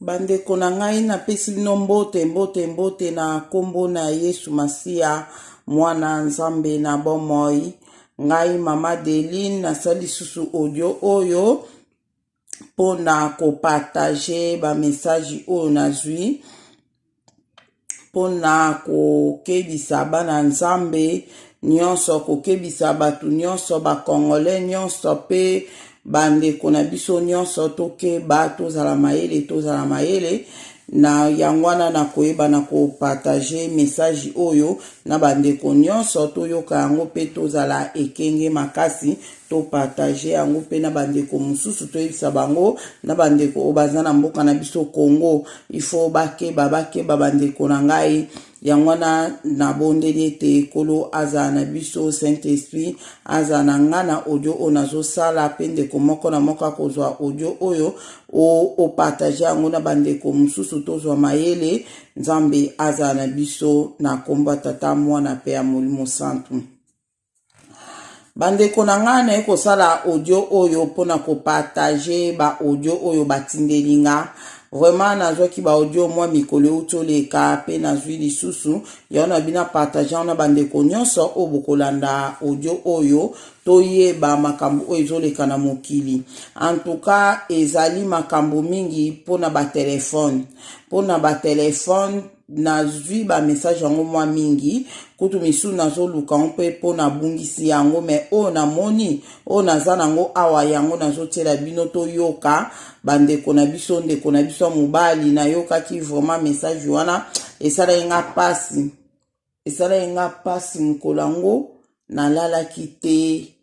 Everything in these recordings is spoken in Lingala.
Bandeko na ngai, napesi bino mbote, mbote, mbote na nkombo na Yesu Masiya, mwana Nzambe na bomoi. Ngai mama Deline nasali lisusu audio oyo mpo na kopartage bamesaje oyo nazwi mpo na kokebisa bana Nzambe nyonso, kokebisa bato nyonso, bakongole nyonso mpe bandeko na biso nyonso, tokeba, tozala mayele, tozala mayele na yango wana na koyeba na kopartage message oyo na bandeko nyonso, toyoka yango mpe tozala ekenge makasi. To partager yango pe na ba ndeko mususu toyebisa bango na ba ndeko oyo baza na mboka na biso Congo il faut bakeba bakeba ba ndeko na ngai yango wana nabondeli ete nkolo azala na biso saint esprit azala na ngai na audio oyo nazosala mpe ndeko moko na moko akozwa audio oyo opatage yango na bandeko mosusu tozwa mayele nzambe azala na biso na nkombo ya tata mwana mpe ya molimo santu bandeko na ngai naye kosala audio oyo mpona kopartage baaudio oyo batindeli nga vraiment nazwaki baaudio mwa mikolo euti oleka mpe nazwi lisusu yango na bina partage yango na bandeko nyonso oyo bokolanda audio oyo toyeba makambo oyo ezoleka na mokili antuka ezali makambo mingi mpona batelefone mpona batelefone nazwi bamessage yango mwa mingi kutu misusu nazoluka yango mpe mpo nabungisi yango me oyo namoni oyo naza nango awa yango nazotyela bino toyoka bandeko na biso ndeko na biso ya mobali nayokaki vraiment message wana esalaki nga mpasi Esalaki nga pasi mokolo yango nalalaki te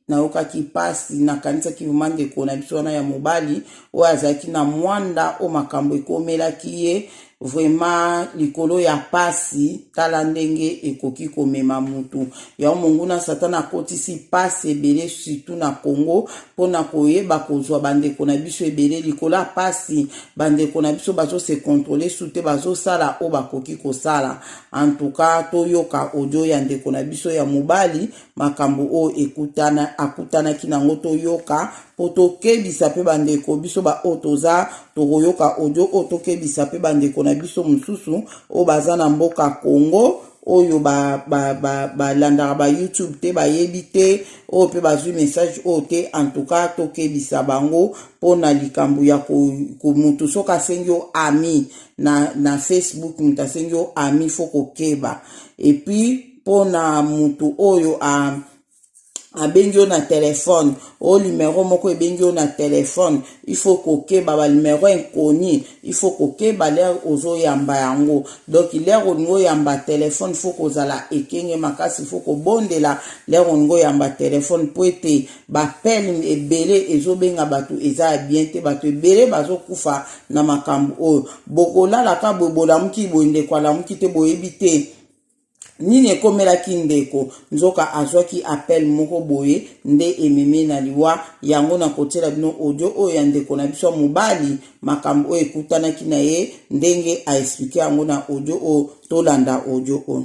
nayokaki pasi nakanisaki vrema ndeko na biso wana ya mobali oyo azalaki na mwanda oyo makambo ekomelaki ye vrema likolo ya pasi tala ndenge ekoki komema motu yango monguna satana akotisi pasi ebele surtout na congo mpo na koyeba kozwa bandeko na biso ebele likolo ya pasi bandeko na biso bazose kontrole su te bazosala oyo bakoki kosala En tout cas, toyoka audio ya ndeko na biso ya mobali, makambo oyo ekutana akutanaki nango toyoka mpo tokebisa mpe bandeko biso baoyo toza tokoyoka audio oyo tokebisa mpe bandeko na biso mosusu oyo baza na mboka Congo oyo balandaka ba, ba, ba ba youtube te bayebi te oyo mpe bazwi message oyo te en tout cas tokebisa bango mpo na likambo ya motu soki asengi yo ami na, na facebook moto asengi yo ami fo kokeba epuis mpo na moto oyo a abengi yo na telefone o limero moko ebengi yo na telefone ifo kokeba balimero inconi ifo kokeba lere ozoyamba yango donk lere olingi oyamba telefone fo kozala ekenge makasi fo kobondela lere olingi oyamba telefone mpo ete Ba film ebele ezo benga batu eza ya bien te batu ebele bazo kufa na makambu oyo bokolala ka boye bolamuki boye ndeko alamuki te boyebi te nini ekomelaki ndeko nzoka azwaki appel moko boye nde ememi ye na liwa yango na kotiela bino audio oyo ya ndeko na biso ya mobali makambo oyo ekutanaki na ye ndenge aexplike yango na audio oyo tolanda audio oyo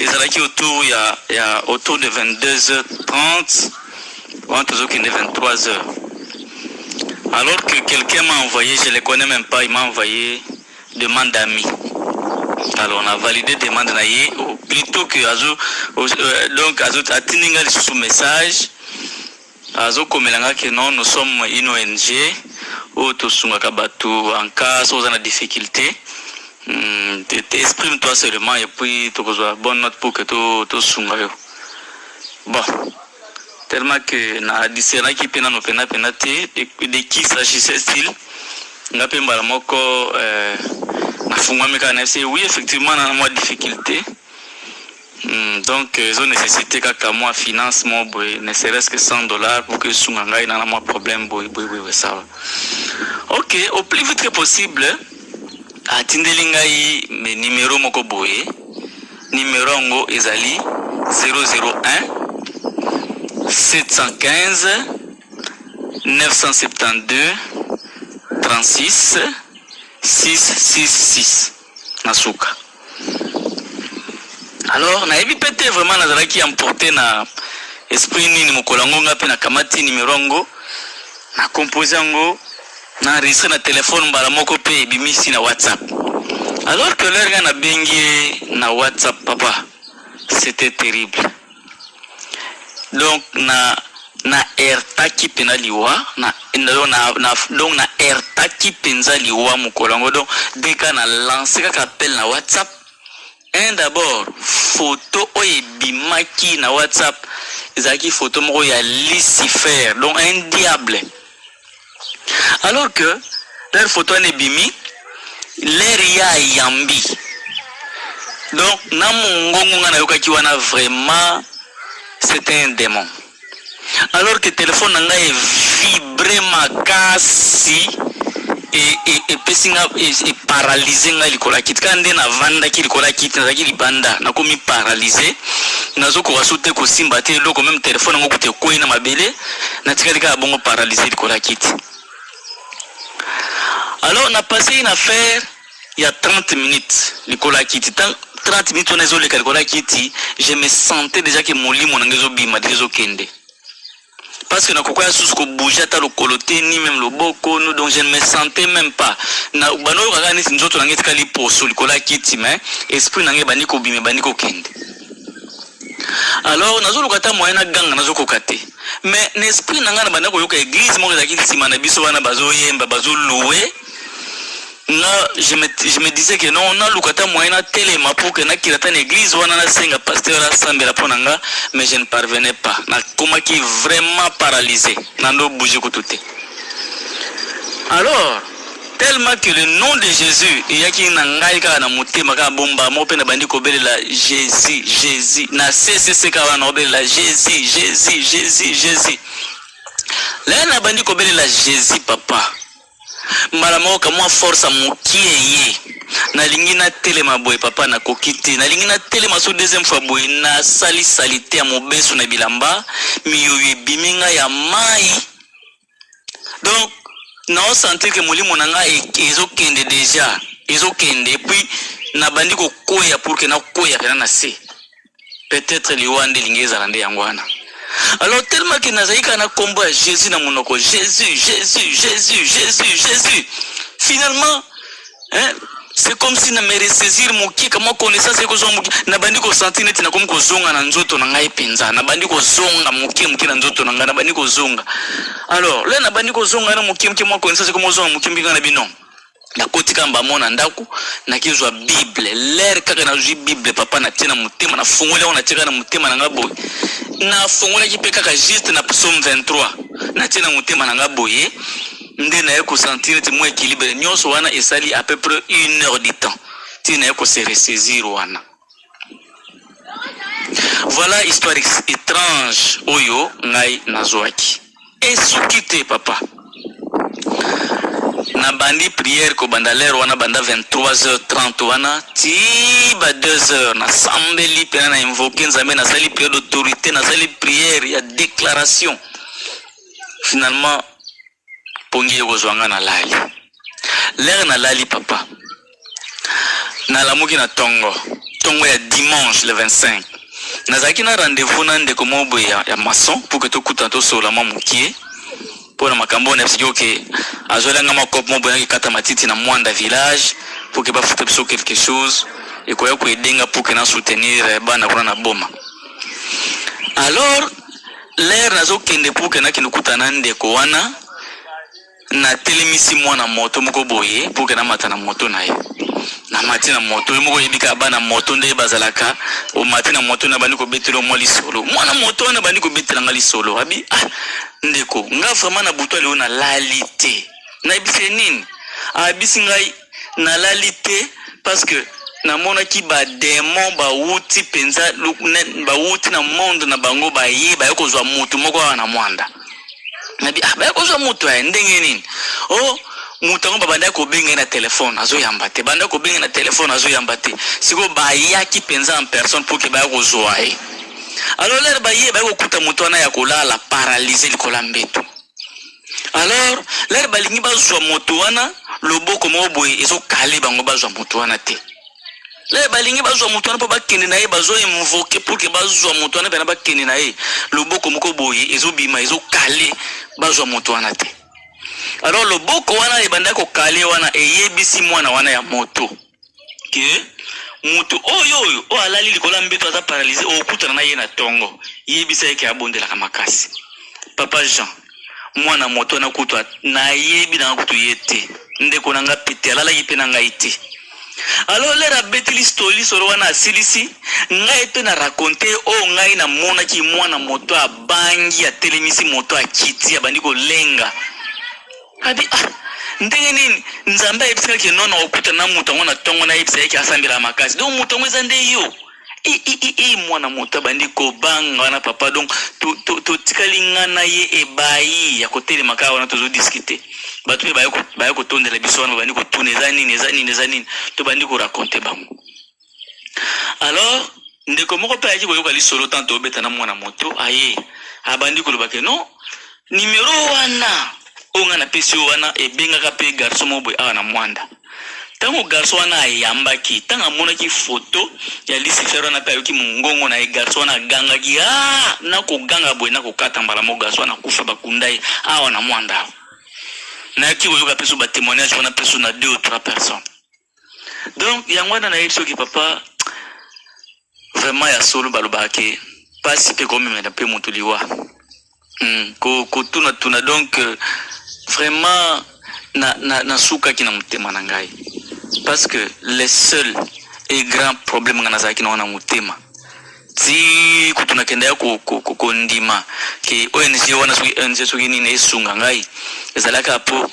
ezalaki autour ya, ya autour de 22h30 wana tozokende 23h alors que quelqu'un m'a envoyé je le connais même pas il m'a envoyé demande d'amis alors on a validé demande na ye plutôt que azo euh, donc azo atindi nga lisusu message Azo komela nga que non nous sommes une ong oyo to sungaka batu en cas soki oza na difficulte hum exprime toi seulement et puis toko zua bonne note pour que to sunga yo bon tellement que na discernaki pe nanu pena pena te de qui s'agissait-il nga pe mbala moko euh, na fungwami kaka na ye oui effectivement na mwa difficulte Hum, donc euh, ezo necessite kaka mwa finance mwa boye ne serait-ce que 100 dollars pour que esunga ngai na na mwa problème boye boye boye boye sawa ok au plus vite que possible atindeli ngai me numero moko boye numero yango ezali 001 715 972 36 666 na suka alors nayebi pe te vraiment nazalaki emporte na esprit nini mokolo yango nga mpe nakamati nimero yango na compose yango na enregistre na telefone mbala moko mpe ebimisi na whatsapp alors que lere nga nabengi ye na whatsapp papa c'était terrible donc na na ertaki pena liwa na donc na, na donc na ertaki penza liwa mokolo yango donc deka na lance kaka appel na whatsapp un d'abord photo oyo ebimaki na whatsapp ezalaki photo moko ya lucifer donc un diable alors que leur photo wana ebimi leur ya yambi donc na mongongo nga nayokaki wana vraiment c'est un démon alors que telefone na ngai evibre makasi epesi nga eparalyse ngai likolo ya kiti kaka nde navandaki likolo ya kiti nazalaki libanda nakomi paralyse nazokoka so te kosimba te eloko meme telefone yango kuta ekwei na mabele natikali kaka bongo paralyse likolo ya kiti alors na passe une affaire ya 30 minutes likolo ya kiti 30 minutes wana ezoleka likolo ya kiti je me sentais déjà ke molimo na ngai ezobima deja ezokende parce que nakoka ya susu kobouge ata lokolo te ni meme loboko no donc je ne me sentais même pas na banoyokaka neti nzoto na ngai etikali poso likolo ya kiti mais esprit na ngai ebandi kobima ebandi kokende alors nazoluka ata moyen na ganga nazokoka te mais na esprit na ngai na banda koyoka église moko ezalaki nsima na biso wana bazoyemba bazoloue nga je me, je me disais que non naluka ata moyen natelema pour que nakila ata na église wana nasenga pasteur asambela mpo na nga mais je ne parvenais pas nakomaki vraiment paralysé nando bouge kutu te alors Tellement que le nom de Jesus eyaki na ngai kaka na motema kaka bomba moko mpe nabandi kobelela Jesus, Jesus. Na CCC kaka wana nakobelela Jesus, Jesus, Jesus, Jesus. Lelo nabandi kobelela Jesus papa. Mbala moko kamwa force ya mokie ye. Nalingi natelema boye papa nakoki te. Nalingi natelema so deuxième fois boye nasali salite ya mobesu na bilamba miyoyo ebimi ngai ya mai donc nao sentir ke molimo na nga e, ezokende deja ezokende epuis nabandi kokweya pour ke nakweya pena na se peut-être liwa nde elingi ezala nde yango wana alors tellement ke nazali kaka na nkombo ya jésus na monoko jésus jésus jésus jésus jésus finalement hein c'est comme si na me ressaisir moke kamwa connaissance ekozwa moke nabandi kosentir neti nakomi kozonga na nzoto na ngai mpenza nabandi kozonga moke moke na nzoto na ngai nabandi kozonga alors le nabandi kozonga na moke moke mwa connaissance ekomi kozonga moke moke ngai na bino nakoti kaka mbamo na ndako nakezwa bible lere kaka nazwi bible papa natie na motema nafungoli yango natie kaka na motema na ngai boye nafungolaki mpe kaka juste na psaume 23 natie na motema na ngai boye nde naye ko sentir neti mwa equilibre nyonso wana esali à peu près une heure du temps ti naye ko se ressaisir wana voilà histoire étrange oyo ngai nazwaki esuki te papa nabandi prière kobanda lere wana banda 23h30 wana ti ba 2h nasambeli mpena na invoke nzambe nasali prière d'autorité nasali prière ya déclaration finalement pongi ekozwa nga nalali lere nalali papa nalamuki na tongo tongo ya dimanche le 25 nazalaki na rendez-vous na ndeko moko boye ya, ya maçon pour que tokutana tosolola mwa mokie mpo na makambo oyo nayebisaki oke azwela nga mwa cope moko boye nakikata matiti na mwanda village pour que bafuta biso quelque chose ekoya koedenga pour que na soutenir eh, bana kuna na boma alors Lere nazokende mpo kenda kende kuta na ndeko wana, natelemisi mwana moto moko boye mpo kenda mata na moto na ye. Namati na moto ye moko oyebi kaka bana moto nde bazalaka, omati na moto na bandi kobetela mwa lisolo, mwana moto wana bandi kobetela nga lisolo abi ah, ndeko nga vraiment na butu lelo nalali te, nayebisi ye nini, ayebisi ngai nalali te parce que namonaki bademon bawuti mpenza bawuti na monde na bango baye baye kozwa motu moko awa na mwanda nabi ah, baye kozwa motu aye ndenge nini o oh, moto yango babandaki kobenga ye na telefone azoyamba te bandaki kobenga na telefone azoyamba te sikoyo bayaki mpenza en personne mpo ke baya kozwa ye alors lere baye baye kokuta moto wana ya kolala paralyse likolo ya mbeto alors lere balingi bazwa moto wana loboko moko boye ezokale bango bazwa moto wana te lere balingi bazwa moto wana mpo bakende na ye bazoinvoke pour ke bazwa moto wana mpena bakende na ye loboko moko boye ezobima ezokale bazwa moto wana te alors loboko wana ebandaki kokale wana eyebisi mwana wana ya moto ke moto oyo oyo oyo alali likolo ya mbeto aza paralyse okutana na ye na tongo yebisa ye ke abondelaka makasi papa jean mwana moto wana kutu nayebi nanga kutu ye te ndeko na nga mpe te alalaki mpe na ngai te alors lere abeteli stoli solo wana asilisi ngai mpe na raconte oyo ngai namonaki mwana moto abangi atelemisi moto akiti abandi kolenga Abi ah ndenge nini nzambe ayebisi nga ke nono okuta na moto yango na ntongo nayebisa ye ke asambelaka makasi donc moto yango eza nde yo ii mwana moto abandi kobanga wana papa donc totikali to, to nga na ye ebayi ya kotelema kaka wana tozodiskute bato mpe baye kotondela biso wana babandi kotuna eza nini eza nini eza nini tobandi korakonte bango alors ndeko moko mpe ayaki koyoka lisolo tanto obeta na mwana moto aye abandi koloba ke non nimero wana oyo ngai napesi yo wana ebengaka mpe garso moko boye awa na mwanda ntango garso wana ayambaki ntango amonaki foto ya lisifere wana mpe ayoki mongongo na ye garso wana agangaki a ah, nakoganga boye nakokata mbala moko garso wana akufa bakunda ye awa na mwanda awa nayaki koyoka mpe so batemoignage wana mpe so na deux ou trois personnes donc yango wana nayebi soki papa vraiment ya solo balobaka ke mpasi mpe komemela mpe moto liwa mm, kotunatuna donc euh, vraiment nasukaki na, na, na motema na ngai parce que le seul et grand problème ngai nazalaki nango na motema ti kutu nakenda ya kondima ke ong wana soki ong soki nini esunga ngai ezalaka mpo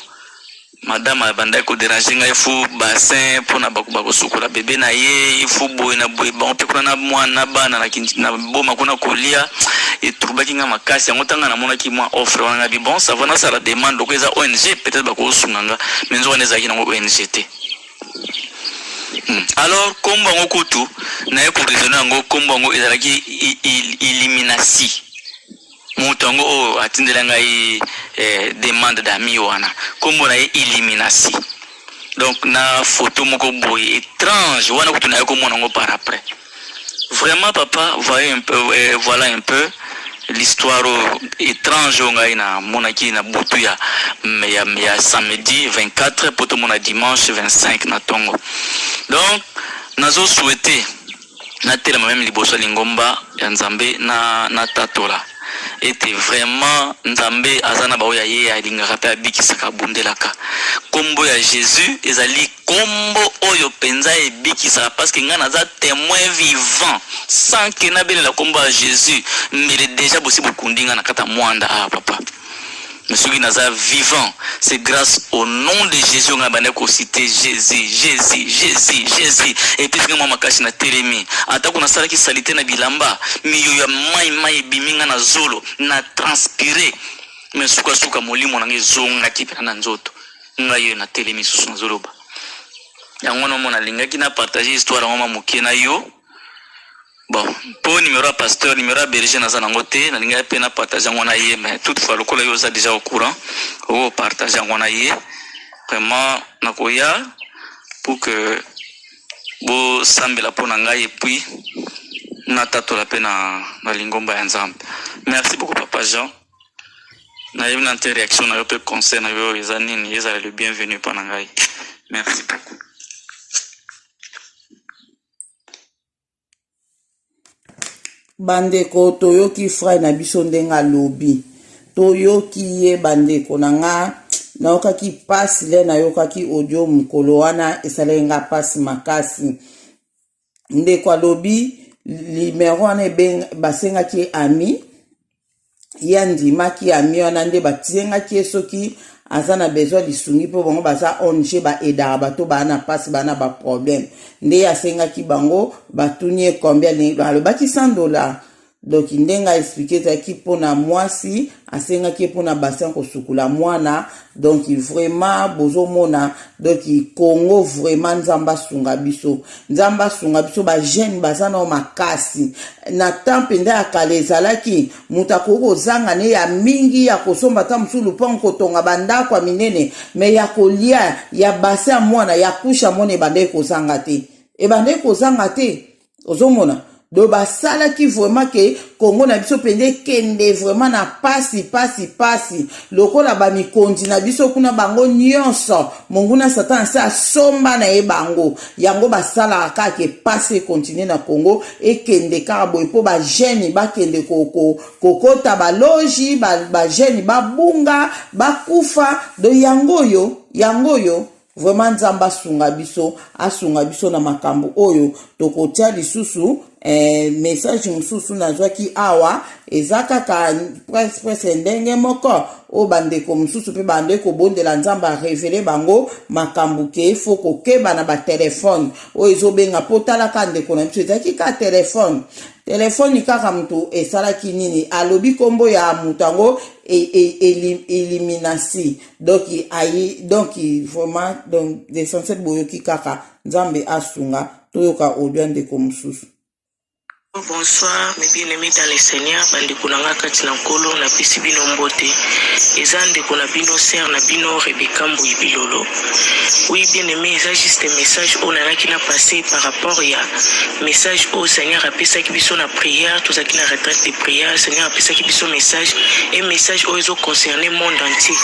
madame abandaki koderange ngai fo bassin mpona bakoba kosukola bebe na ye fo boye na boye bango mpe kuna na mwana na bana na boma kuna kolia eturbaki ngai makasi yango ntanga namonaki mwa offre wana ngai bi bon sava nasala demande loko eza ong peut-être bakosunga nga mai nzoka nde ezalaki nango ong te hmm. alors nkombo yango kutu naye koresone yango nkombo yango ezalaki illuminasi Moto yango oyo atindela ngai eh, demande d'amis wana kombo na ye Illuminasi. Donc na photo moko boye étrange wana kutu naye komona yango par après. Vraiment papa, voyez un peu, eh, voilà un peu l'histoire étrange oyo ngai namonaki na butu ya, ya, ya samedi 24 po tomona dimanche 25 na tongo. Donc nazo souhaiter natelema meme liboso ya lingomba ya nzambe na natatola ete vraiment nzambe aza na baoyo ya ye alingaka mpe abikisaka abundelaka nkombo ya jésus ezali nkombo oyo mpenza ebikisaka parceke ngai naza témoin vivant sans ke nabelela nkombo ya jésus mbele deja bosi bokundi ngai na kata mwanda awa ah, papa mais soki naza vivant c'est grâce au nom de jésus ngai banda kosite jésus jésus jésus jésus epesi ngai mwa makasi na telemi atako nasalaki salite na bilamba miyo ya mai mai ebimi ngai na zolo na transpire mais sukasuka molimo na ngai ezongaki mpena na nzoto ngai oyo na telemi susu nazoloba yango nomona alingaki na partage histoire yango ma moke na yo Bon, po numero ya pasteur, numero ya berger naza nango te, nalingaki pe na partage yango na ye, mais toutefois lokola yo oza deja au courant, oko partage yango na ye. Vraiment nakoya pour que bosambela mpo na ngai epuis natatola mpe na, na lingomba ya nzambe merci beaucoup papa jean nayebi na nte réaction na yo mpe conseil na yo eza nini ezala le bienvenu mpo na ngai merci beaucoup Bandeko toyoki frère na biso ndenge alobi toyoki ye bandeko na nga nayokaki mpasi le nayokaki audio mokolo wana esalaki nga mpasi makasi ndeko alobi limero wana basengaki ye ami ye andimaki ami wana nde batiyengaki ye soki aza na besoin lisungi mpo bango baza ong baedaka bato baa na mpasi baa na baproblème nde ye asengaki bango batuni ye combien alingi alobaki 100 dollar donk ndenge aexplike ezalaki mpo na mwasi asengaki ye mpo na bassin kosukula mwana donc vraiment bozomona donc congo vraiment nzambe asunga biso nzambe asunga biso bajeune baza nao makasi na temps mpenza ya kala ezalaki moto akoki kozanga ne ya mingi ya kosomba ata mosusu lupango kotonga bandako ya minene me ya kolia ya base ya mwana ya kusha mwana ebandaki kozanga te ebandaki kozanga te ozomona do basalaki vraiment ke kongo na biso mpenza ekende vraiment na pasi pasi pasi lokola bamikonzi na biso kuna bango nyonso monguna satana se asomba na ye bango yango basalaka kaka ke pasi ekontinue na kongo ekende kaka boye mpo bagene bakende kokota baloji bagene babunga bakufa do yango oyo yango oyo Vraiment Nzambe asunga biso, asunga biso na makambo oyo tokotia lisusu eh, message mosusu nazwaki awa eza kaka presque presque ndenge moko oyo bandeko mosusu mpe bandeki kobondela nzambe arevele bango makambo ke fo kokeba na batelefone oyo ezobenga mpo talaka ndeko na biso ezalaki kaka telefone telefoni kaka moto esalaki nini alobi nkombo ya moto yango e, e, eliminasi donc ayi donc vraiment donc l'essentiel boyoki kaka nzambe asunga toyoka audio ya ndeko mosusu Bonsoir mes bien-aimés dans le Seigneur, bandeko na nga kati na nkolo napesi bino mbote. Eza ndeko na bino sœur na bino Rebecca Mbuyi Bilolo. Oui bien-aimé, eza juste message oyo nalaki na passe par rapport ya message oyo seigneur apesaki biso na prière tozalaki na retraite de prière seigneur apesaki biso message e message oyo ezo concerne monde entier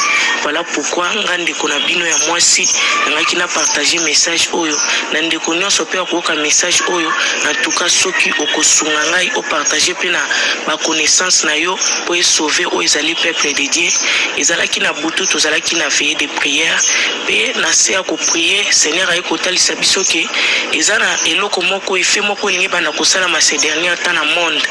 voilà pourquoi nga ndeko na bino ya mwasi nangaki na partage message oyo na ndeko nyonso mpe akoyoka message oyo en tout cas soki okosunga ngai opartage mpe na baconnaissance na yo mpo esauve oyo ezali peuple de dieu ezalaki na butu tozalaki na veille de prière mpe na se prier seigneur aye kotalisa biso ke eza na eloko moko efe moko elingi banda kosalama ces dernier temps na monde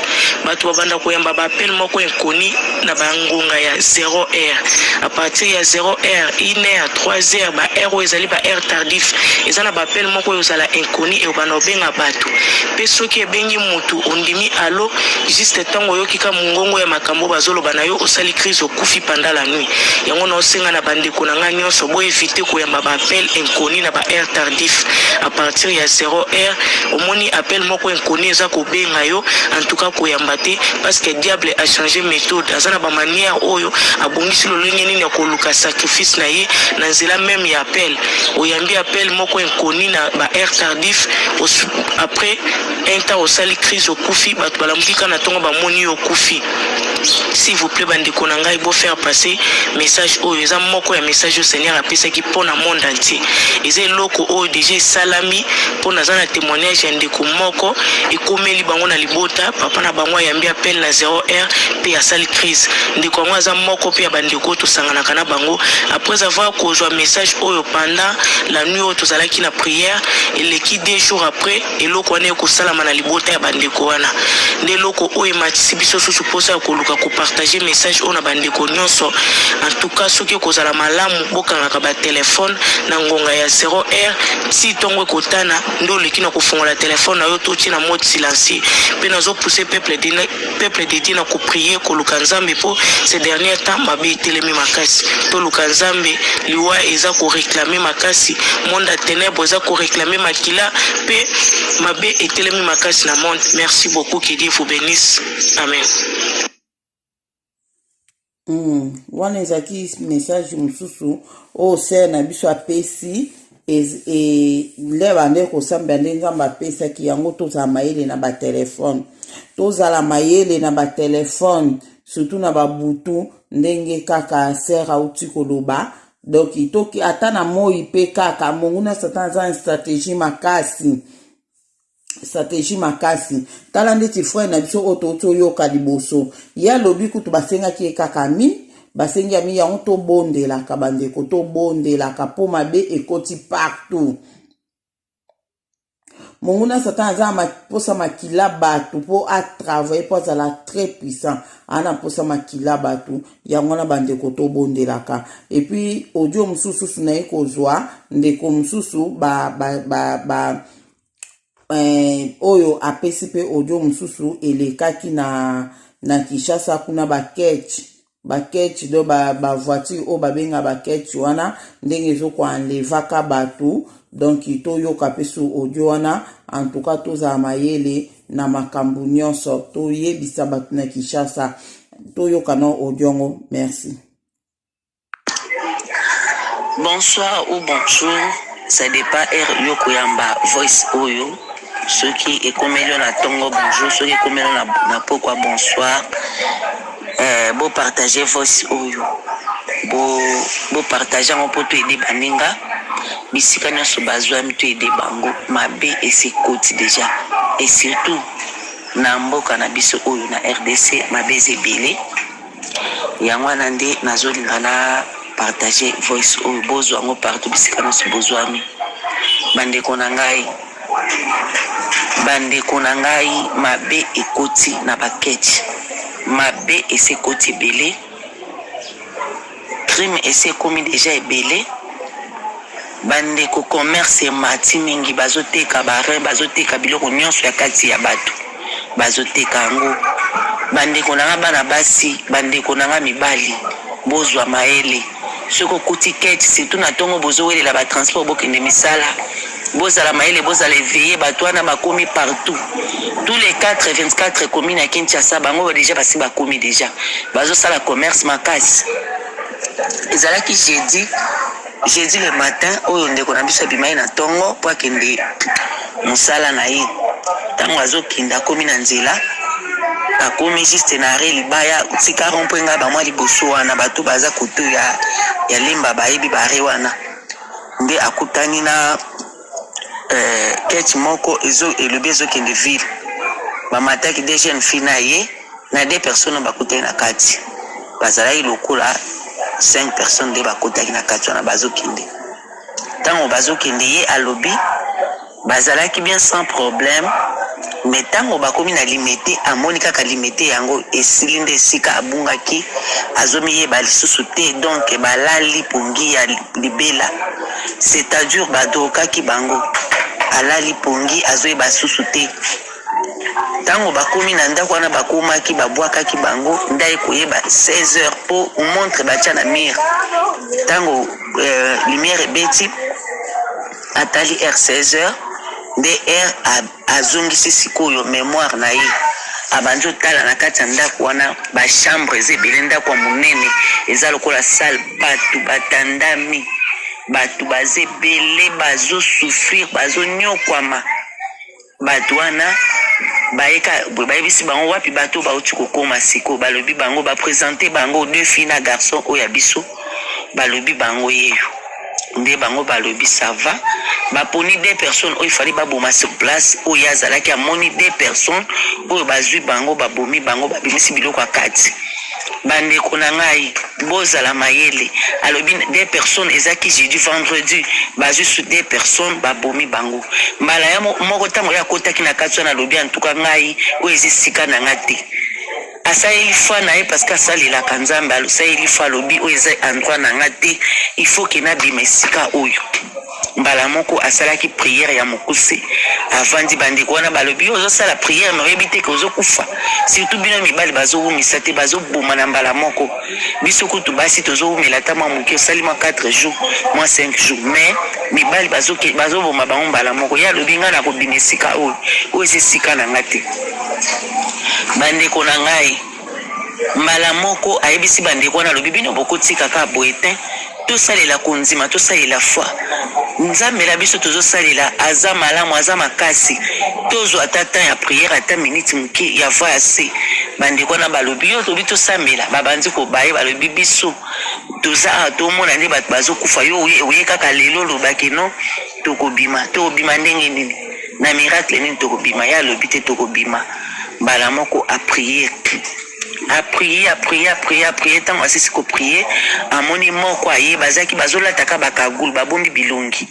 bato babanda koyamba baappel moko inconi na bangonga ya 0 heure a partir ya 0 heure 1 heure 3 heure ba heure oyo ezali ba heure tardif eza na baappel moko oyo ozala inconi eobanda obenga bato mpe soki ebengi motu ondimi alo juste ntango oyoki ka mongongo ya makambo bazoloba na yo osali crise okufi panda la nuit yango naosenga na bandeko na ngai nyonso boevite koyamba baappel inconi na baheure tardif a partir ya 0 heure omoni appel moko inconi eza kobenga yo antuka koyamba te parce que diable a change méthode aza na bamanière oyo abongisi lolenge nini ya koluka sacrifice na ye na nzela meme ya appel oyambi appel moko inconi na baheure tardif après un temps osali crise okufi bato balamuki kaka na ntongo bamoni yo okufi S'il vous plait ba ndeko na ngai bo faire passer message oyo eza moko ya message oyo Seigneur apesaki mpo na monde entier. Eza eloko oyo deja esalami mpo naza na témoignage ya ndeko moko ekomeli bango na libota, papa na bango ayambi appel na 0 heure mpe asali crise. Ndeko yango aza moko mpe ya ba ndeko oyo tosanganaka na bango. Après avoir kozwa message oyo pendant la nuit oyo tozalaki na prière, eleki deux jours après Eloko wana ekosalama na libota ya bandeko wana nde eloko oyo ematisi biso susu mposa ya koluka kopartage message oyo na bandeko nyonso. Antuka, soki ekozala malamu, bokangaka batelefone na ngonga ya 0 heure tii ntongo ekotana nde oleki na kofungola telefone na yo to otie na mode silencieux. Mpe nazopuse peuple peuple de Dieu na ko prier koluka Nzambe po ce dernier temps mabe etelemi makasi toluka Nzambe liwa eza ko réclamer makasi monde ya ténèbres eza ko réclamer makila pe mabe etelemi makasi na monde merci beaucoup que Dieu vous bénisse amen Mm, wana ezalaki message mosusu oyo sere na biso apesi e, nde bande kosambela nde nzambe apesaki yango tozala mayele na batelefone tozala mayele na batelefone surtout na babutu ndenge kaka sere auti koloba donk toki ata na moi mpe kaka monguna satan aza na stratégie makasi strategie makasi tala ndeti frère na biso oyo touti oyoka liboso ye alobi kutu basengaki ye kaka mi basengi ami yango tobondelaka bandeko tobondelaka mpo mabe ekoti partout monguna satan aza na mposa makila bato mpo atravaille mpo azala très puissant aa na mposa makila bato yango wana bandeko tobondelaka epuis audio mosusu susu naye kozwa ndeko mosusu ba, ba, ba, ba eh, oyo apesi mpe audio mosusu elekaki na, na kinshasa kuna baketch baketch do bavoiture ba oyo babenga baketch wana ndenge ezokoanlevaka bato donk toyoka mpe su audio wana antuka tozala mayele na makambo nyonso toyebisa bato na kinshasa toyoka na audio yango merci Bonsoir ou bonjour, ça dépend heure yo koyamba voice oyo. Soki ekomeli yo na tongo bonjour, soki ekomeli yo na, na pokwa bonsoir. Eh, bo partager voice oyo. Bo bo partager yango mpo toyede baninga bisika nyonso bazwami toyede bango mabe esi ekoti deja et surtout na mboka na biso oyo na rdc mabe eza ebele Yango wana nde nazolinga na partager voice oyo bozwa yango partout bisika nyonso bozwami. Bandeko na ngai, bandeko na ngai, mabe ekoti na baketi, mabe esi ekoti ebele, crime esi ekomi deja ebele. Ba ndeko commerce emati mingi bazo teka ba rein bazo teka biloko nionso ya kati ya batu bazo teka yango ba ndeko na nga bana basi ba ndeko na nga mibali bozua mayele soki okuti ketch surtout na tongo bozo welela ba transport bokende misala bozala mayele bozala eveille batu wana bakomi partout tous les 4 24 commune ya Kinshasa bango deja basi bakomi deja bazo sala commerce makasi ezalaki jeudi Jeudi le matin oyo ndeko na biso abimaki na ntongo mpo akende mosala na ye. Ntango azokende akomi na nzela, akomi juste na arret libaya tika rompwe ngai bamwa liboso wana bato baza koto ya, ya lemba bayebi bare wana nde akutani na Euh, kech moko ezo elobi ezokende ville bamataki de jeune fille na ye na de personne oyo bakutaki na kati bazalaki lokola 5 personne nde bakutaki na kati wana bazokende ntango bazokende ye alobi bazalaki bien sans problème me ntango bakomi na limete amoni kaka limete yango esili nde esika abungaki azomiyeba lisusu te donk balali pongi ya libela Cetadure ba drokaki bango alali pongi azoyeba susu te ntango bakomi na ndako wana bakomaki babwakaki bango ndai koyeba 16 heures mpo montre batya na mire ntango euh, lumière ebeti atali r 16 heures nde r azongisi sikoyo memoire na ye abandi otala na kati ya ndako wana bachambre eza ebele ndako ya monene eza lokola sale bato batandami bato baza ebele bazosouffrir bazonyokwama bato wana bayeka boye bayebisi bango wapi bato bauti kokoma sikoyo balobi bango bapresente bango deux fille na garçon oyo ya biso balobi bango yeyo nde bango balobi sava baponi de personne oyo ifali baboma sur place oyo azalaki amoni de personne oyo bazwi bango babomi bango babimisi biloko ya kati bandeko na ngai bozala mayele alobi de personne ezaki jeudi vendredi bazwi su de personne babomi bango mbala ya moko ntango ye akotaki na kati wana alobi antuka ngai oyo eza esika na ngai te Asaleli foi na ye parce que asalelaka Nzambe alusaleli foi alobi oyo eza endroit na nga te il faut que na bima esika oyo mbala moko asalaki priere ya mokuse avandi bandeko wana balobi ozosala priere me oyebi te ke ozokufa surtout bino mibali bazowumisa te bazoboma na mbala moko biso kutu basi tozowumela ata mwa moke osali mwa 4 jours mwa 5 jours mais mibali bazoboma bango mbala moko ye alobi ngai nakobima esika oyo oyo eza esika na ngai te Bandeko na ngai, mbala moko ayebisi bandeko wana, alobi bino bokotika kaka boye te, tosalela kondima, tosalela foi. Nzambe na biso tozosalela aza malamu, aza makasi. Tozwa ata temps ya prière, ata minute moke ya voix ya se. Bandeko wana balobi yo, tobi tosambela, babandi kobaye, balobi biso toza awa tomona nde bato bazokufa, yo oye kaka lelo olobaki no Tokobima tokobima ndenge nini na miracle nini tokobima ye alobi te tokobima mbala moko aprie aprie aprie aprie aprie ntango asisi koprie amoni moko aye bazalaki bazolataka bakagulu babombi bilongi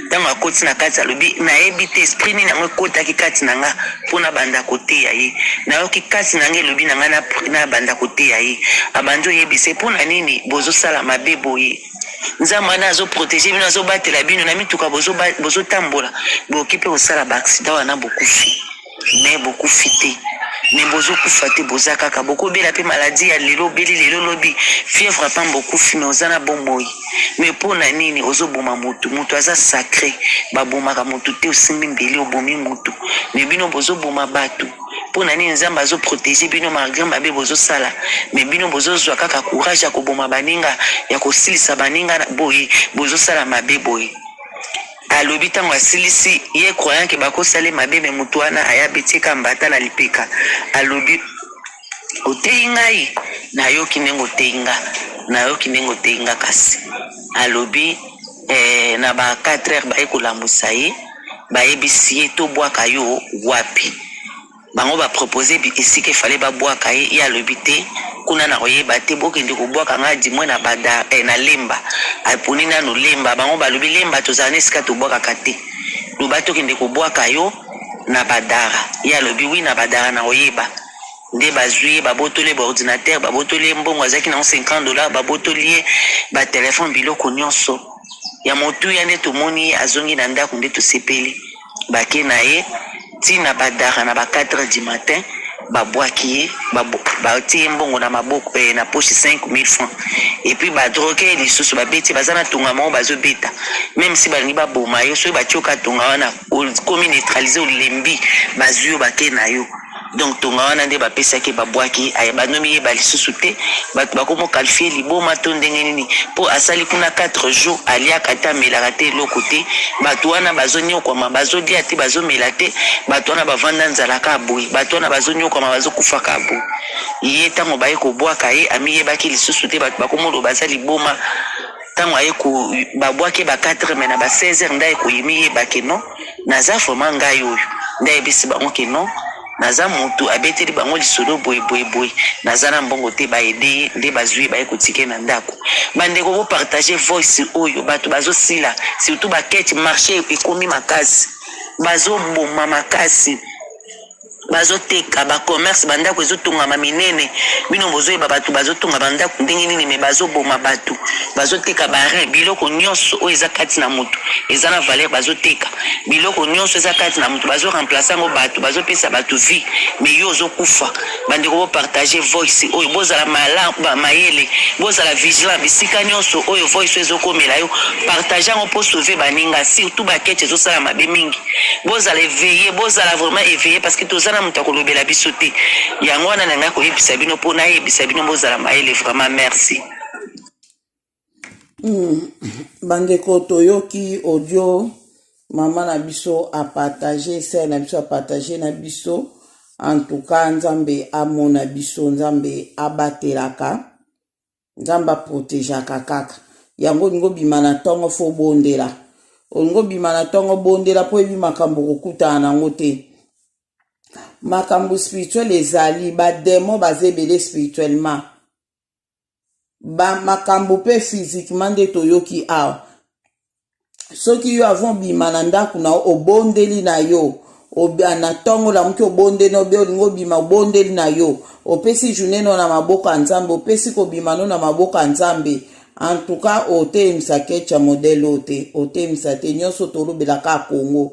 ntango akoti na kati alobi nayebi te esprit nini yango ekotaki kati na nga mpo nabanda koteya ye nayoki kati na nga elobi na ngai nabanda koteya ye abandi oyebisa ye mpo na nini bozosala mabe boye Nzambe wana azo protege bino, azo batela bino na mituka bozo bozo tambola, boki pe osala ba accident wana bokufi, mais bokufi te mais bozo kufa te, boza kaka bokobela pe maladie ya lelo obeli lelo lobi fièvre pamba bokufi, mais oza na bomoi. Mais po na nini ozo boma mutu? Mutu aza sacre, babomaka mutu te, osimbi mbeli obomi mutu, mais bino bozo boma batu. Pona nini nzambe azo protege bino malgre mabe bozo sala mais bino bozo zwa kaka courage ya koboma baninga ya kosilisa baninga boye bozo sala mabe boye alobi ntango asilisi ye croyant ke bakosala ye mabe me motu wana aya betieka mbata na lipeka alobi oteyi ngai nayoki ndenge oteyi nga nayoki ndenge oteyi nga kasi alobi eh, na ba 4 heures baye kolambusa ye bayebisiye to bwaka yo wapi bango ba propose esika efale ba bwaka ye ye alobi te kuna na koyeba te bokende kobwaka nga dimwe na bada eh, na lemba aponi nano lemba bango balobi lemba tozala na esika tobwakaka te loba tokende kobwaka yo na badara ye alobi wi na badara na koyeba nde bazui ye babotoli ye ba ordinateur babotoli ye mbongo azalaki nango 50 dollar babotoli ye ba telefone biloko nyonso ya motuya nde tomoni ye azongi na ndako nde tosepeli bake na ye ti na badara na ba 4 du matin babwaki ye batie ye mbongo na maboko eh, na poche 5000 francs epuis badroge ye lisusu babeti ye baza na tonga moko bazobeta meme si balingi baboma yo soki batioka tonga wana okomi neutralise olembi bazwi yo bake na yo Donc tonga wana nde bapesaki babwaki aye banomi ye balisusu te bato bakomo qualifie liboma to ndenge nini mpo asali kuna 4 jours aliaka te amelaka te eloko te bato wana bazonyokwama bazolia te bazomela te bato wana bavanda nzala ka boye bato wana bazonyokwama bazokufa ka boye ye ntango baye kobwaka ye amiyebaki lisusu te bato bakomoloba aza liboma tango aye ko ba bwaki ba 4 heures mais na ba 16 heures nde aye koye miyeba ke non naza vraiment ngai oyo nde ayebisi bango ke non naza mutu abeteli bango lisolo boye boye boye naza na mbongo te ba aide ye nde bazwi ye baye kotika ye na ndako bandeko bo partage voice oyo bato bazosila surtout ba kete marche ekomi makasi bazoboma makasi bazoteka ba commerce ba ndako ezotongama minene bino bozoyeba bato bazotonga ba ndako ndenge nini me bazoboma bato bazoteka barin biloko nyonso oyo eza kati na moto eza na valeur bazoteka biloko nyonso eza kati na moto bazo remplace yango bato bazopesa bato vie me yo ozokufa bandeko bopartage voice oyo bozala malaba mayele bozala vigilant bisika nyonso oyo voice oyo ezokomela yo partage yango mpo sauve baninga surtout bakete ezosala mabe mingi bozala eveille bozala vraiment eveille parce que toza na moto akolobela biso te yango wana na ngai koyebisa bino mpo nayebisa bino bozala mayele vraiment merci mm. bandeko toyoki audio mama na biso apartage sere na biso apartage na biso en tout cas nzambe amona biso nzambe abatelaka nzambe aprotegeaka kaka yango olingi obima na ntongo fo obondela olingi obima na ntongo obondela mpo oyebi makambo okokutana na yango te makambo spirituel ezali bademo baza ebele spirituellement ba makambo mpe physiquement nde toyoki awa soki yo avant obima na ndako na obondeli na yo na ntongo olamuki obondeli na obe olingi obima obondeli na yo opesi journée no na maboko ya nzambe opesi kobima no na maboko ya nzambe en tout cas oteyemisa kecha modele oyo te oteyemisa te nyonso tolobela kaka kongo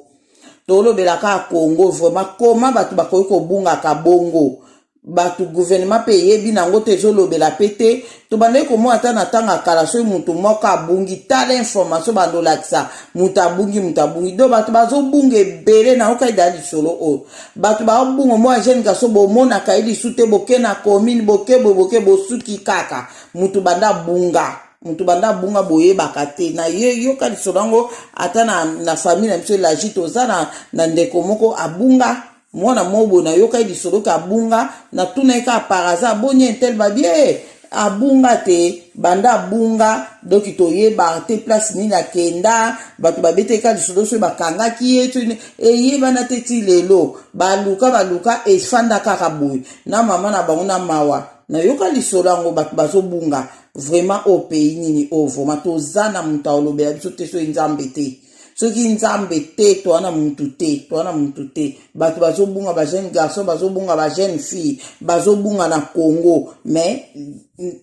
tolobela kaka kongo vraiment koma bato bakoki kobungaka bongo bato guvernema mpe eyebi na yango te ezolobela mpe te tobandaki komona ata na ntango ya kala soki moto moko abungi tala information bandolakisa moto abungi moto abungi do bato bazobunga ebele na yokai da lisolo oyo bato babunga mwa jeune gaso bomonaka ye lisu te boke na commune boke boye boke bosuki kaka moto banda bunga moto banda abunga boyebaka te na ye yoka lisolo yango ata na, na famille na biso elagi toza na, na ndeko moko abunga mwana mobo nayoka ye lisolo ke abunga natuna ye kaka par hasard boni intel babie eh, abunga te banda abunga doki toyeba te place nini akenda bato babetaki ka lisolo soki bakangaki ye tini eyebana te ti lelo baluka baluka efanda kaka boye na mama na bango na mawa nayoka lisolo yango bato bazobunga vraiment oyo pays nini oyo vraiment toza na moto aolobela biso te soki nzambe te soki nzambe te toa na mutu te toa na mutu te bato bazobunga bajeune garçon bazobunga bajeune fille bazobunga na congo mais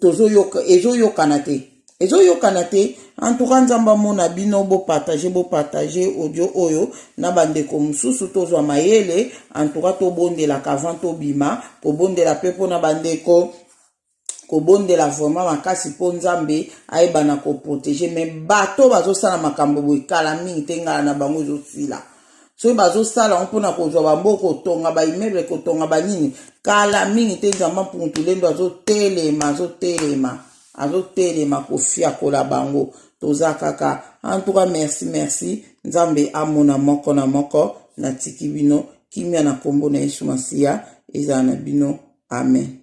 tozoyoka ezoyokana te ezoyokana te antuka nzambe amona bino bopartage bopartage audio oyo na bandeko mosusu tozwa mayele antuka tobondelaka avant tobima kobondela mpe mpo na bandeko kobondela vraiment makasi mpo nzambe ayeba na koprotege me bato bazosala makambo boye kala mingi te ngala na bango ezosila soki bazosala yango mpona kozwa bambo kotonga baimeble kotonga banini kala mingi te nzambe mpungutu lendo azotelema azotelema azotelema kofiakola bango toza kaka antuka merci merci nzambe amona moko na moko natiki bino kimia na nkombo na yesu masiya ezala na bino amen